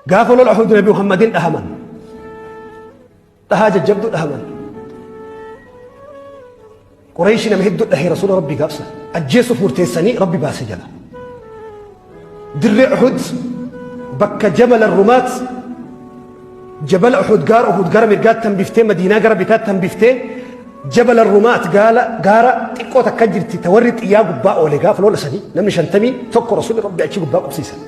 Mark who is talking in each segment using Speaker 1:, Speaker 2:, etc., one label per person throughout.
Speaker 1: Gaafa lola Uhud Nabi Muhammadin dhahaman. Dhahaa jajjabduu dhahaman. Qurayshi nama hedduu dhahee Rasuula Rabbii gaafsa. Ajjeesuuf murteessanii Rabbi baase jala. Dirree Uhud bakka jabala Rumaat jabala Uhud gaara Uhud gara mirgaatti hambiftee Madiinaa gara bitaatti hambiftee jabala Rumaat gaala gaara xiqqoo takka jirti ta warri xiyyaa gubbaa oole gaafa lola sanii namni shantamii tokko Rasuulli Rabbi achi gubbaa qubsiisan.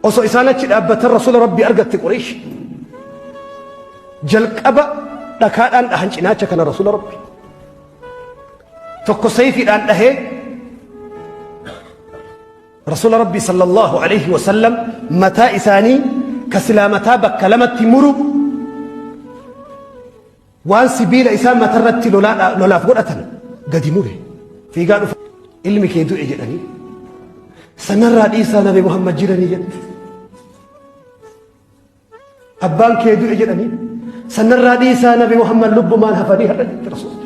Speaker 1: osoo isaan achi dhaabbatan rasuula rabbii argatte qureesh jalqaba dhakaadhaan dhahan cinaacha kana rasuula rabbi tokko sayfiidhaan dhahee rasuula rabbii sallallahu alaihi wasallam mataa isaanii ka silaa mataa bakka lamatti muru Waan sibiila isaan matarratti lolaadha- lolaaf godhatan gadi mure. Fiigaa dhufa ilmi kee du'e jedhanii. Sanarraa dhiisaa nabi Muhammad jiranii jedhe. Abbaan kee du'e jedhanii. Sanarraa dhiisaa nabi Muhammad lubbumaan hafanii har'a jirti rasuulli.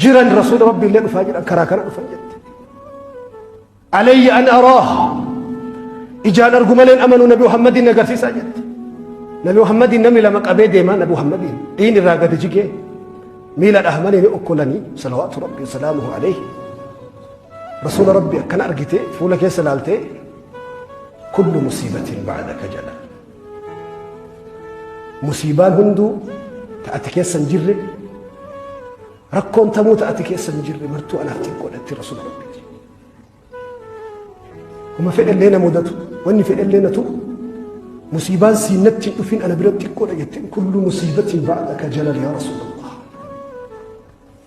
Speaker 1: jiran rasuula rabbii illee dhufaa jedhan karaa kana dhufan jette alayya an araah ijaan argu maleen amanuu nabi muhammadiin agarsiisaa jette nabi muhammadiin namni lama qabee deemaa nabi muhammadiin dhiin irraa gadi jigee miila dhahmanii ni okkolanii salawaatu rabbii salaamuhu alayhi rasuula rabbii akkana argitee fuula keessa laaltee kullu musiibatiin ba'adaka jedha Musiibaan hunduu ta ati keessa hin jirre rakkoon tamuu ta ati keessa hin jirre martuu anaaf xiqqoodhatti rasuula rabbiiti. Homa fedhallee na mudatu wanni fedhallee na tuqu musiibaan siinatti hin dhufin ana bira xiqqoodha jetteen kullu musiibatiin ba'adha ka jalal yaa rasuula.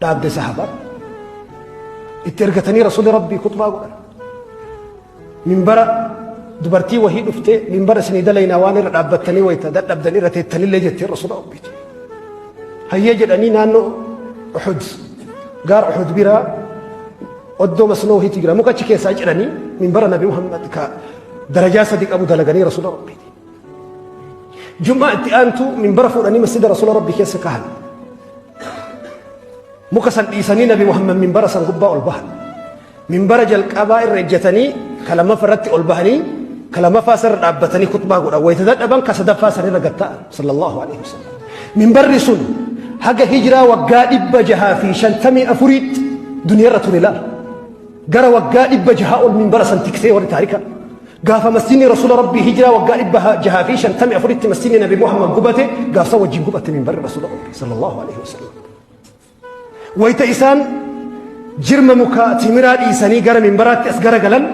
Speaker 1: dhaabde sahaba itti ergatanii rasuli rabbii kutbaa godhan minbara dubartii wahii dhuftee minbara isinii dalaynaa waan irra dhaabbattanii wayta dadhabdan irra teettanillee jettee rasula rabbii hayyee jedhanii naannoo uxud gaar uxud biraa oddoo masnoo wahiitu jira mukachi keessaa jedhanii minbara nabi muhammad ka darajaa sadi qabu dalaganii rasula rabbiiti Jum'aa itti aantu minbara fuudhanii masjida Rasuula Rabbii keessa kahan. Muka san dhiisanii Nabi Muhammad minbara san gubbaa ol bahan. Minbara jalqabaa irra ejjatanii ka lammaffaa irratti ol bahanii ka lammaffaa sana irra dhaabbatanii kutbaa godhan. Wayita dadhaban ka sadaffaa sana irra gad ta'an sallallahu alaihi wasallam. Minbarri sun haga hijiraa waggaa dhibba jahaa fi shantamii afuriitti duniyaa irra ture laal. Gara waggaa dhibba jahaa ol minbara san tiksee warri taarika. Gaafa masjidni Rasuula Rabbii hijiraa waggaa dhibba jahaa fi shantamii afuritti masjidni Nabi Muhammad gubate gaafsa wajjin gubate minbarri Rasuula Rabbii sallallahu alaihi wasallam. Wayita isaan jirma mukaa timiraa dhiisanii gara minbaraatti as garagalan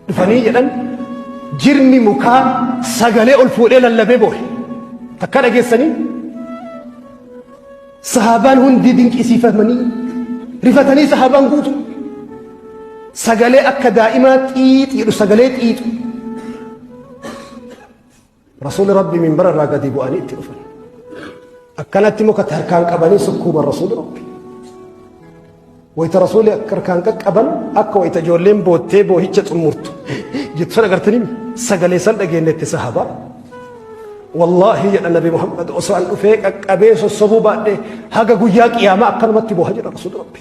Speaker 1: dhufanii jedhan jirmi mukaa sagalee ol fuudhee lallabee boohe takka dhageessanii sahaabaan hundi dinqisiifamanii rifatanii sahaabaan guutu sagalee akka daa'imaa xiixiidhu sagalee xiixu Rasuulli Rabbi minbara irraa gadi bu'anii itti dhufan. Akkanatti muka harkaan qabanii sukkuuman Rasuulli Rabbi. Wayita Rasuulli akka harkaan qaqqaban akka wayita ijoolleen boottee boohicha xumurtu jettu sana agartanii sagalee san dhageenyetti sahabaa. Wallaahi jedha Nabi Muhammad osoo an dhufee qaqqabee sossobuu baadhee haga guyyaa qiyaamaa akkanumatti booha jedha Rasuulli Rabbi.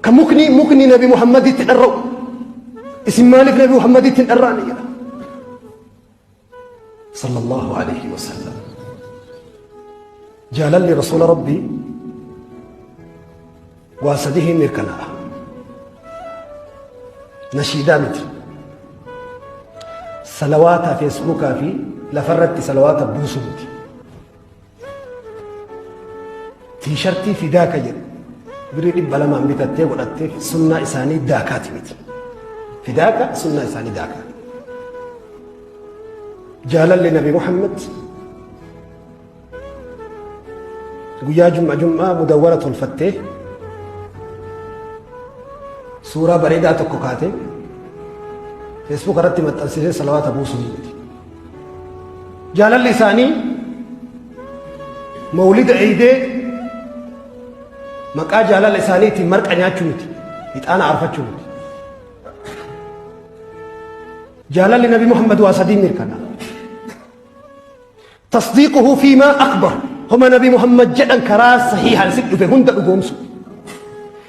Speaker 1: Ka mukni mukni nabi Muhammaditti dharra'u isin maaliif nabi Muhammaditti hin dharraane jedha. Sallallahu alaihi wasallam. Jaalalli rasuula rabbii waa sadii hin mirkanaa'a. Nashiidaa miti. Salawaataa feesbuukaa fi lafarratti salawaata buusu miti. tiishartii fidaa ka jedhu birrii dhibba lamaan bitattee godhattee sunnaa isaanii daakaati miti fidaaka sunnaa isaanii daakaati jaalalli nabi muhammad guyyaa jum'a jum'aa mudawwara tolfattee suuraa bareedaa tokko kaatee feesbuuk irratti maxxansisee salawaata buusuu miti Jaalalli isaanii mawlida eeydee maqaa jaalala isaaniitiin marqa nyaachuu miti. Ixaana arfachuu miti. Jaalalli Nabi Muhammad waa sadiin mirkana. Tasdiiquhu fi maa akbar. Homa Nabi Muhammad jedhan karaa sahiihaan si dhufe hunda dhugoomsu.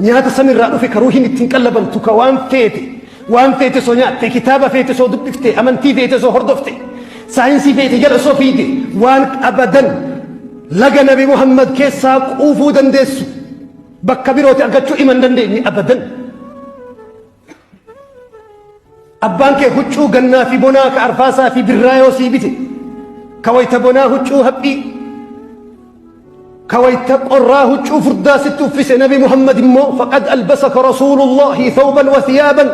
Speaker 1: Nyaata samiirraa dhufe ka ruuhin ittiin qallabamtu ka waan feete waan feete soo nyaatte kitaaba feete soo dubbifte amantii feete soo hordofte saayinsii feete jala soo fiide waan abadan laga nabi Muhammad keessaa quufuu dandeessu bakka birooti argachuu iman dandeenye abadan. Abbaan kee huccuu gannaa fi bonaa ka arfaasaa fi birraa yoo sii bite ka wayta bonaa huccuu haphii ka wayta qorraa huccuu furdaa sitti uffise nabi Muhammad immoo faqad albasaka rasuulullaahi thawban wa thiyaaban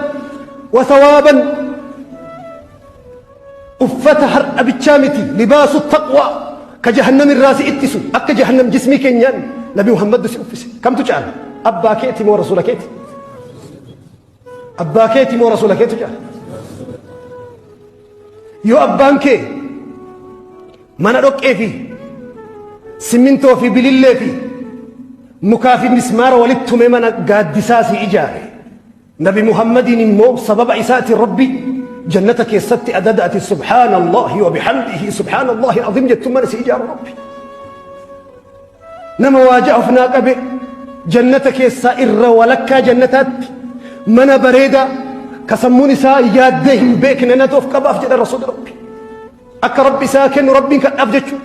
Speaker 1: wa thawaaban Uffata har'a bichaa miti libaasu taqwaa ka jahannam irraa si ittisu akka jahannam jismii keenyaan nabi Muhammaddu si uffise kamtu caala abbaa keeti moo rasuula keeti abbaa keeti moo rasuula keetu caala yoo abbaan kee mana dhoqqee fi simmintoo fi bilillee fi mukaa fi mismaara walitti tumee mana gaaddisaa si ijaare Nabi Muhammadiin immoo sababa isaatiin Rabbi jannata keessatti adada ati subhaanallahi wa bihamdihi subhaanallahi azim jettu mana si ijaaru Rabbi. Nama waa ja'a of naa qabe jannata keessaa irra walakkaa jannataatti mana bareedaa ka sammuun isaa yaaddee hin beekne natu of qabaaf jedha rasuulli Rabbi. Akka Rabbi isaa kennu Rabbiin kadhaaf jechuudha.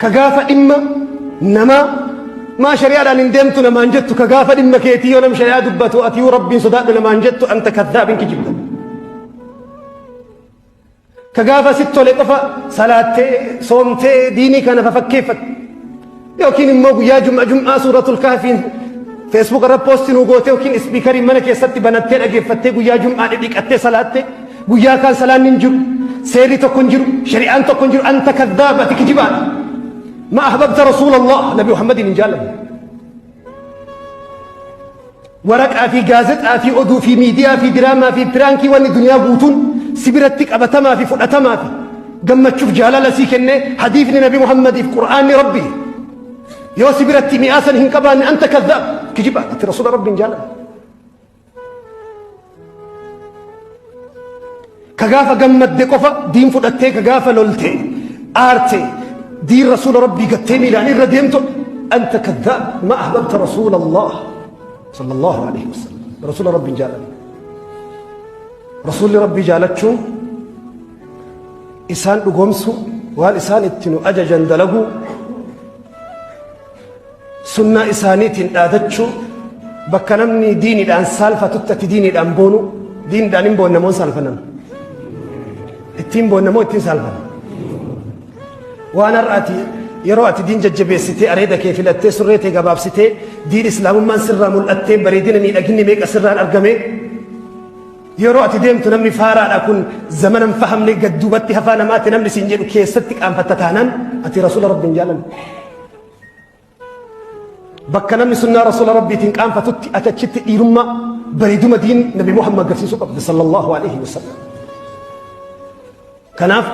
Speaker 1: ka gaafa dhimma namaa maa shari'aadhaan hin deemtu namaan jettu ka gaafa dhimma keetii yoo nam shari'aa dubbatu atii rabbiin sodaadhu namaan jettu anta kadhaabin kijibda ka gaafa sitti tole qofa salaattee soomtee diinii kana fafakkeeffatte yookiin immoo guyyaa jum'a jum'aa suuratul kahfiin feesbuuk irra poosti nuu gootee yookiin ispiikariin mana keessatti banattee dhageeffattee guyyaa jum'aa dhidhiqattee salaattee guyyaa kaan salaanni hin jiru seerri tokko hin jiru shari'aan tokko hin jiru anta kadhaaba ati kijibaadha ma ahbabta rasuulallah nabi muhammadin hin jaallanne Waraqaa fi gaazexaa fi oduu fi miidiyaa fi diraamaa fi piraankii wanni duniyaa guutuun si biratti qabatamaa fi fudhatamaa fi gammachuuf jaalala sii kennee hadiifni nabi Muhammadiif qur'aanni rabbi yoo si biratti mi'aasan hin qabaanne anta kadhaab kijibaa itti rasuula rabbiin jaalala. ka gaafa gammadde qofa diin fudhattee ka gaafa lolte aarte diin rasuula rabbii gattee miilaan irra deemtu anta kaddaab ma ahbabta rasuula allah sala allahu alayhi wasalam rasuula rabbiin jaalate rasuulli rabbii jaalachuun isaan dhugoomsu waan isaan itti nu ajajan dalaguu Sunnaa isaaniitiin dhaadachuu, bakka namni diinidhaan saalfatutti ati diinidhaan boonu, diinidhaan hin boonna moo hin saalfannan? Ittiin boonna moo ittiin saalfanna? Waan har'a ati yeroo ati diin jajjabeessitee areeda kee filattee surree tee gabaabsitee diin islaamummaan sirraa mul'attee bareedina miidhaginni meeqa sirraan argame yeroo ati deemtu namni faaraadha kun zamana hin fahamne gad duubatti hafaa namaatti namni siin jedhu keessatti qaanfatta taanaan ati rasuula rabbi hin jaalanne. Bakka namni sunnaa rasuula rabbiitiin qaanfatutti ati achitti dhiirummaa bareeduma diin nabi Muhammad agarsiisuu qabda sallallahu alaihi wasallam. Kanaaf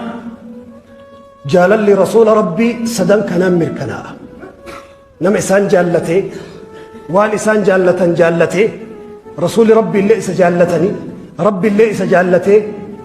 Speaker 1: jaalalli rasuula rabbii sadan kanaan mirkanaa'a. Nama isaan jaallatee waan isaan jaallatan jaallatee rasuuli rabbi illee isa jaallatanii rabbi illee isa jaallatee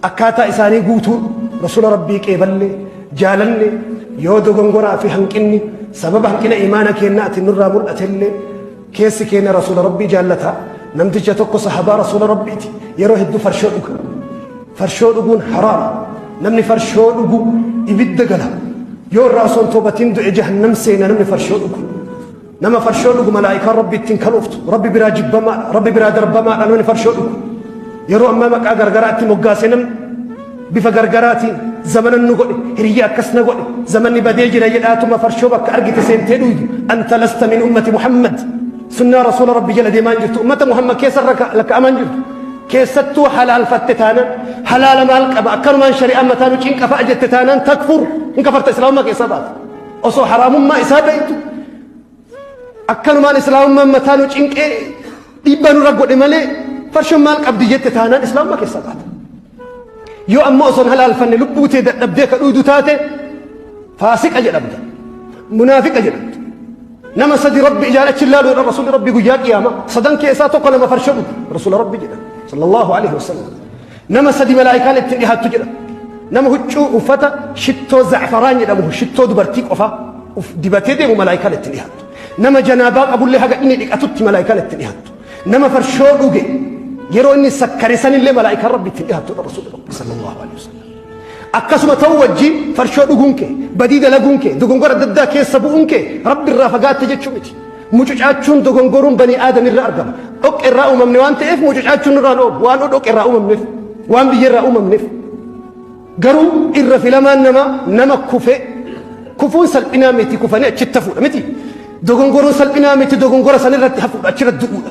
Speaker 1: Akkaataa isaanii guutuun Rasuula Rabbii qeeballee, jaalallee, yoo dogongoraa fi hanqinni sababa hanqina iimaana keennaatiin nurraa mul'atellee keessi keenna Rasuula Rabbii jaallata. Namticha tokko sahabaa Rasuula Rabbiiti yeroo hedduu farshoo dhuga. Farshoo dhuguun haraama. Namni farshoo dhugu ibidda gala. Yoo irraa osoo hin toobatiin du'e jahannam seena namni farshoo dhugu. Nama farshoo dhugu malaa'ikaan rabbi ittiin kalooftu rabbi biraa jibbamaadha rabbi biraa darbamaadha namni farshoo dhugu yeroo ammaa maqaa gargaraatti moggaasee namni bifa gargaraatiin zamana nu godhe hiriyya akkas na godhe zamanni badee jira jedhaatuma farshoo bakka argite seentee dhuydu anta lasta min ummati muhammad sunnaa rasuula rabbi jala deemaan jirtu ummata muhammad keessa lakka'amaan jirtu keessattuu halaalfatte taanaan halaala maal qaba akkanumaan shari'aa mataa nu cinqafa jette taanaan takfur hin kafarta islaamummaa keessaa baata Osoo haraamummaa isaa beektu akkanumaan islaamummaan mataa nu cinqee dhiibbaa nurra godhe malee farshoon maal qabdi jette taanaan islaamummaa keessa baata. Yoo ammoo osoo hin halaalfanne lubbuu tee dadhabdee ka dhuudu taate faasiqa jedhamta. Munaafiqa jedhamta. Nama sadi rabbi ijaan achi ilaalu jedhan rasuulli rabbi guyyaa qiyaama sadan keessaa tokko nama farsho dhugu rasuula rabbi jedhan sallallahu alaihi wasallam. Nama sadi malaa'ikaan ittiin dhihaattu jedha. Nama huccuu uffata shittoo za'afaraan jedhamu shittoo dubartii qofaa uf dibatee deemu malaa'ikaan ittiin dhihaattu. Nama janaabaa qabullee haga inni dhiqatutti malaa'ikaan ittiin dhihaattu. Nama farshoo dhuge yeroo inni sakkare sanillee malaa'ikaan rabbi ittiin dhihaattu dha rasuulli rabbi sallallahu alaihi wasallam. Akkasuma ta'uu wajjin farshoo dhuguun kee, badii dalaguun kee, dogongora adda addaa keessa bu'uun kee Rabbi irraa fagaatte jechuu miti. Mucucaachuun dogongoruun banii aadam irra argama. Dhoqqe irraa uumamne waan ta'eef mucucaachuun irraa nu oolu. Waan dhoqqe irraa uumamneef, waan biyya irraa uumamneef. Garuu irra filamaan namaa nama kufee kufuun salphinaa miti kufanii achitti hafuudha miti. Dogongoruun salphinaa miti dogongora san irratti hafuudha achirratti du'uudha.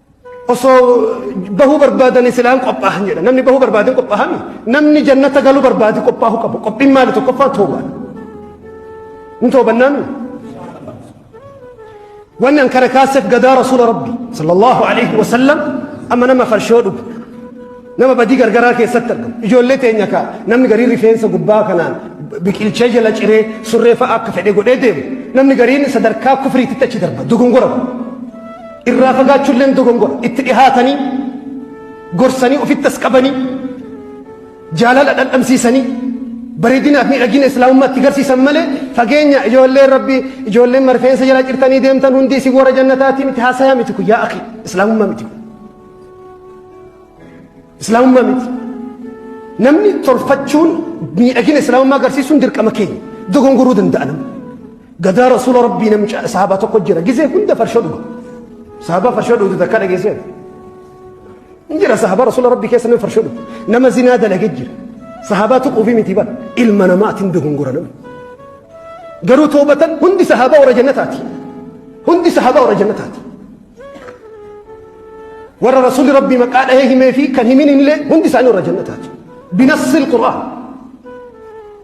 Speaker 1: osoo bahuu barbaadanii silaan qophaahan jedha namni bahuu barbaadin qophaahami namni jannata galuu barbaadi qophaahu qabu qophiin maali tokkoffaa toobaan ni toobannaan wanni an kana kaaseef gadaa rasuula rabbi sallallahu alaihi wasallam amma nama farshoo dhugu nama badii gargaraa keessatti argamu ijoollee teenya kaa namni garii rifeensa gubbaa kanaan biqilchee jala ciree surree fa'a akka fedhe godhee deemu namni gariin sadarkaa kufriititti achi darba dogongora kun Irraa fagaachuulleen dogongora. Itti dhihaatanii gorsanii ofitti as qabanii jaalala dhandhamsiisanii bareedinaa fi miidhagina islaamummaatti garsiisan malee fageenya ijoolleen rabbi ijoolleen marfeensa jalaa cirtanii deemtan hundi isin warra jannataati miti haasayaa miti kun yaa akhi islaamummaa miti kun. Islaamummaa miti. Namni tolfachuun miidhagina islaamummaa agarsiisuun dirqama keenya dogongoruu danda'a namni. Gadaa rasuula rabbii namicha saaba tokko jira gisee hunda farshoo dhuga. Saaba farshoo dhugu takka dhageessee. Hin jira saaba rasuula rabbii keessa nama farshoo dhugu. Nama zinaa dalagee jira. Saaba tuquu fi miti bara ilma namaatiin dogongora nama. Garuu toobatan hundi saaba warra jannataati. Hundi saaba warra jannataati. Warra rasuulli rabbii maqaa dhahee himee fi kan himin illee hundi isaanii warra jannataati. Binassil Qur'aan.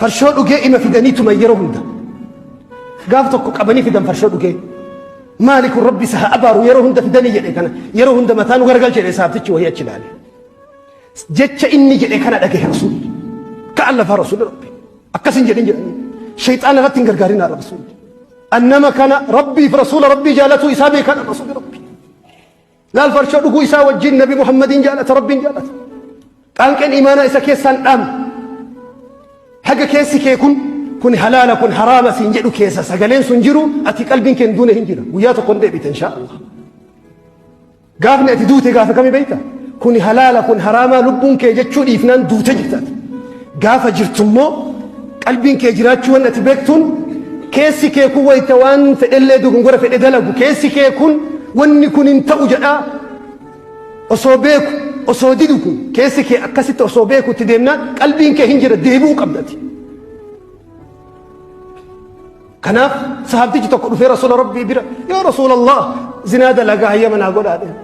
Speaker 1: Farshoo dhugee ima fidanii tuman yeroo hunda. Gaaf tokko qabanii fidan farshoo dhugee. Maali kun rabbi isa haa abaaru yeroo hunda fidanii jedhe kana yeroo hunda mataa nu gargal jedhe saabtichi wayii achi ilaale. Jecha inni jedhe kana dhagahe rasuulli. Ka'an lafaa rasuulli rabbi. Akkas hin jedhin jedhanii. Shayxaan irratti hin gargaarin haadha rasuulli. Annama kana rabbiif rasuula rabbii jaalatuu isaa beekan rasuulli rabbi. Laal farshoo dhuguu isaa wajjin Nabi Muhammadiin jaalata, Rabbiin jaalata. Qaanqeen imaanaa isa keessaan dhaame. Haga keessi kee kun kun halaala kun haraama siin jedhu keessa sagaleen sun jiru ati qalbiin kee hin duune hin jira. Guyyaa tokko hin deebita inshaa Allah. Gaafni ati duute gaafa kami beekta? Kun halaala kun haraamaa lubbuun kee jechuu dhiifnaan duute jirtaati. Gaafa jirtu immoo qalbiin kee jiraachuu waan ati beektuun keessi kee kun wayita waan fedhellee dogongora fedhe dalagu keessi kee kun wanni kun hin ta'u jedhaa osoo beeku osoo didu kun keessi kee akkasitti osoo beeku itti deemnaan qalbiin kee hin jira deebi'uu qabdati. Kanaaf sahabtichi tokko dhufee Rasuula Rabbii bira yaa Rasuulallah zinaa dalagaa hayyama naa godhaa jedhe.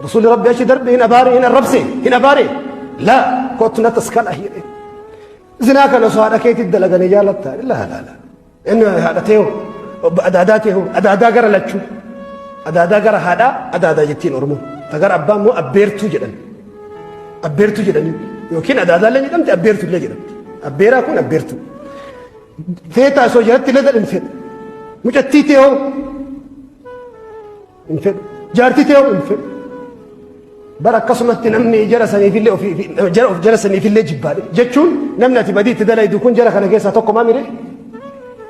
Speaker 1: Rasuulli Rabbi achi darbe hin abaare hin arrabse hin abaare laa kottu na taskana jedhe. Zinaa kana osoo haadha keetii dalaganii jaalatta laa laa laa inni haadha ta'e hoo adaadaa ta'e hoo adaadaa gara lachuu adaadaa gara haadhaa adaadaa jettiin Oromoo ta gara abbaa immoo abbeertuu jedhan. Abbeertuu jedhanii yookiin adaadaallee jedhamti abbeertuu illee jedhamti. Abbeeraa kun abbeertuu. Feetaa osoo jalatti laga hin fedhu. Mucattii tee hoo hin fedhu. Jaartii tee hoo hin fedhu. Bara akkasumatti namni jara saniifillee ofii jara of jara saniifillee jibbaadhe jechuun namni ati badii itti dalaydu kun jara kana keessaa tokko maa miree?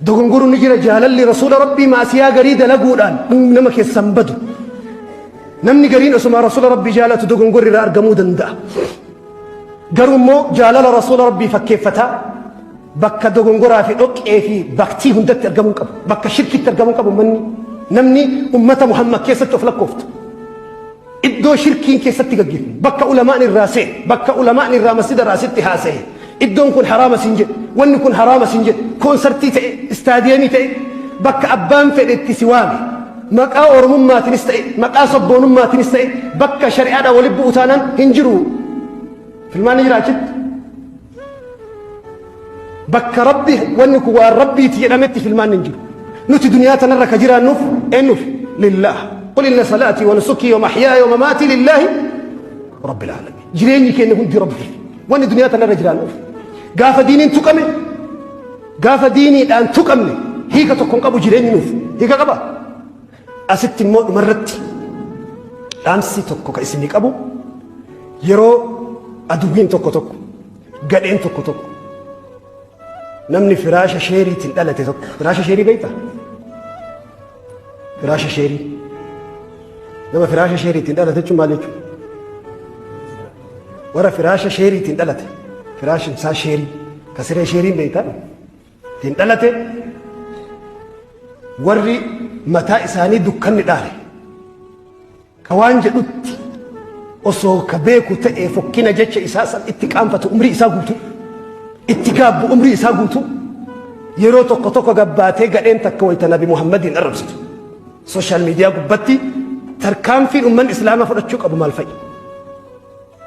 Speaker 1: Dogongoru ni jira jaalalli rasuula rabbii maasiyaa garii dalaguudhaan inni nama keessan badu. Namni gariin osuma rasuula rabbii jaalatu dogongorri irraa argamuu danda'a. Garuu immoo jaalala rasuula rabbii fakkeeffataa bakka dogongoraa fi dhoqqee fi baktii hundatti argamuu qabu. Bakka shirkitti argamuu qabu manni namni ummata Muhammad keessatti of lakkooftu. Iddoo shirkiin keessatti gaggeeffamu, bakka ulamaan irraa se'e, bakka ulamaan irraa masjida irraa sitti haasa'e, iddoon kun haraama sin jedhe, wanni kun haraama sin jedhe, koonsartii ta'e, istaadiyeemii ta'e, bakka abbaan fedhe itti si waame, maqaa Oromummaatinis ta'e, maqaa sabboonummaatinis ta'e, bakka shari'aadhaan walitti bu'u taanaan hin jiru. Filmaanni jira achitti. bakka rabbi wanni kun waan rabbiiti jedhametti filmaan hin jiru nuti duniyaa tanarra ka jiraannuuf eennuuf lillaah qul inna salaatii wa nusukii wa mahyaaya wa mamaatii lillaahi rabbil aalamiin jireenyi keenya hundi rabbiif wanni duniyaa tanarra jiraannuuf gaafa diiniin tuqame gaafa diiniidhaan tuqamne hiika tokko hin qabu jireenyi nuuf hiika qaba Asitti immoo dhumarratti dhaamsi tokko kan isinii qabu yeroo aduwwiin tokko tokko gadheen tokko tokko namni firaasha sheeriitiin dhalate tokko firaasha sheerii beektaa? Firaasha sheerii nama firaasha sheeriitiin dhalate jechuun maal jechuudha? Warra firaasha sheeriitiin dhalate firaashin isaa sheerii ka siree sheeriin beektaa? ittiin dhalate warri mataa isaanii dukkanni dhaale ka waan jedhutti osoo ka beeku ta'ee fokkina jecha isaa san itti qaanfatu umrii isaa guutuu itti gaabbu umrii isaa guutuu yeroo tokko tokko gabbaatee gadheen takka wayta nabi muhammadiin arrabsitu sooshaal miidiyaa gubbatti tarkaanfiin ummanni islaamaa fudhachuu qabu maal fa'i